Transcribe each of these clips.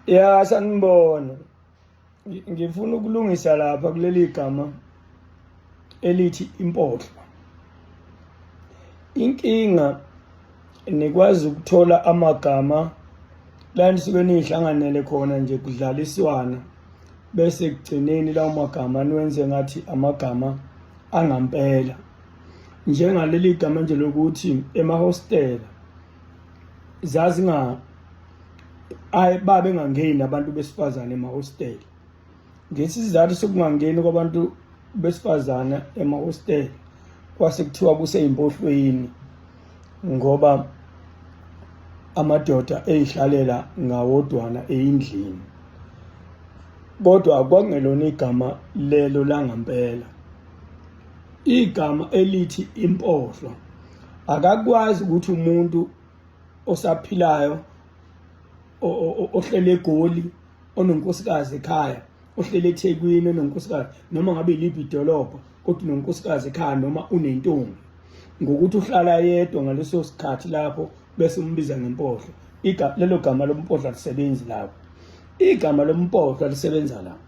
ya sanibona ngifuna ukulungisa lapha kuleli gama elithi impohlo inkinga nikwazi ukuthola amagama la nisuke nihlanganele khona nje kudlaliswana bese kugcineni lawo magama niwenze ngathi amagama angampela njengaleli gama nje lokuthi emahostela zazinga ayi babe ngangeni abantu besifazane emahostela ngesizathu sokungangeni kwabantu besifazane emahostela kwase kuthiwa kuseyimpohlweni ngoba amadoda eyihlalela ngawodwana eyindlini kodwa kwangelona igama lelo langampela igama elithi impohlwa akakwazi ukuthi umuntu osaphilayo ohlele egoli ononkosikazi ekhaya ohlele ethekwini ononkosikazi noma ngabe iliphi idolobha kodwa unonkosikazi ekhaya noma unentombi ngokuthi uhlala yedwa ngaleso sikhathi lapho bese umbiza ngempohlo lelo gama lompohlo alisebenzi lapho igama lompohlo alisebenza lapho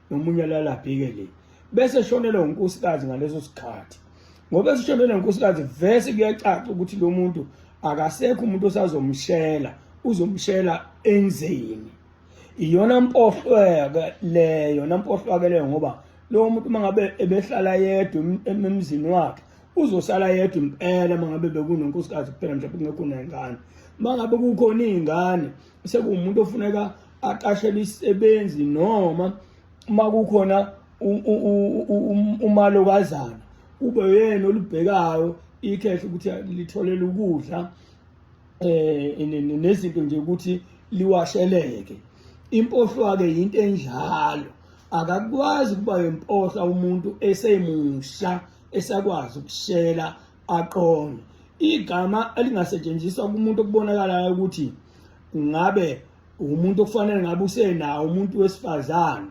nomunye alala abhike le bese shonelwa unkosikazi ngaleso sikhathi ngoba esishonelwa unkosikazi vese kuyacaca ukuthi lo muntu akasekho umuntu osazomshela uzomshela enzeni iyona mpohlweke leyo nampohlwake leyo ngoba lo muntu uma ngabe ebehlala yedwa emzini wakhe uzosala yedwa impela mangabe bekunonkosikazi kuphela mhlawumbe kungekho nengane mangabe kukhona izingane sekuwumuntu ofuneka aqashele isebenzi noma uma kukhona umalokazana kube yena olubhekayo ikhehle ukuthi litholele ukudla um nezinto nje ukuthi liwasheleke impohlwa-ke yinto enjalo akakwazi ukuba yempohla umuntu esemusha esakwazi ukushela aqonde igama elingasetshenziswa kumuntu okubonakalayo ukuthi ngabe umuntu okufanele ngabe usenawo umuntu wesifazane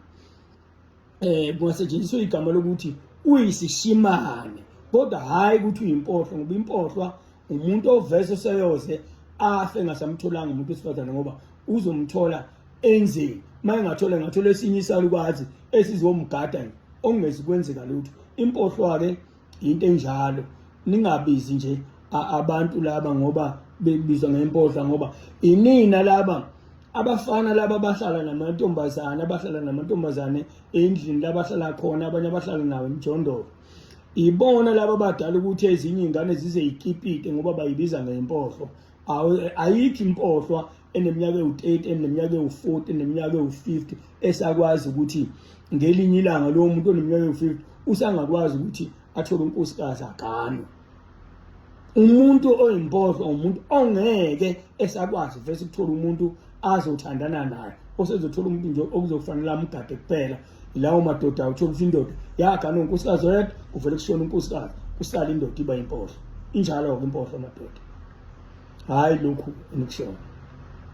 eh kungasetshenziswa igama lokuthi uyisishimane kodwa hayi ukuthi uyimpohlo ngoba impohlwa umuntu ovese seyoze afe ngasamtholanga umuntu wesifazane ngoba uzomthola enzeni uma engathola engathola esinye isalukwazi esizomgada okungezi kwenzeka lutho impohlwa-ke into enjalo ningabizi nje abantu laba ngoba bebizwa ngempodla ngoba inina laba abafana laba abahlala namantombazane abahlala namantombazane endlini labahlala khona abanye abahlala nawo emjondolo ibona laba abadala ukuthi ezinye ingane zize ikipite ngoba bayibiza ngempohlo ayikho impohlwa eneminyaka ewu-30 eneminyaka ewu-40 eneminyaka ewu-50 esakwazi ukuthi ngelinye ilanga lowo muntu oneminyaka ewu-50 usangakwazi ukuthi athole unkosikazi aganwe umuntu oyimpohlwa umuntu ongeke esakwazi vese ukuthola umuntu azothandana naye osezothola umuntu nje okuzokufanele amugade kuphela yilawo madoda uthola ukuthi indoda yaganwa unkosikazi oyedwa kuvele kushona unkosikazi kusala indoda iba impohlo injalo-ke impohlo madoda hhayi lokhu enikushona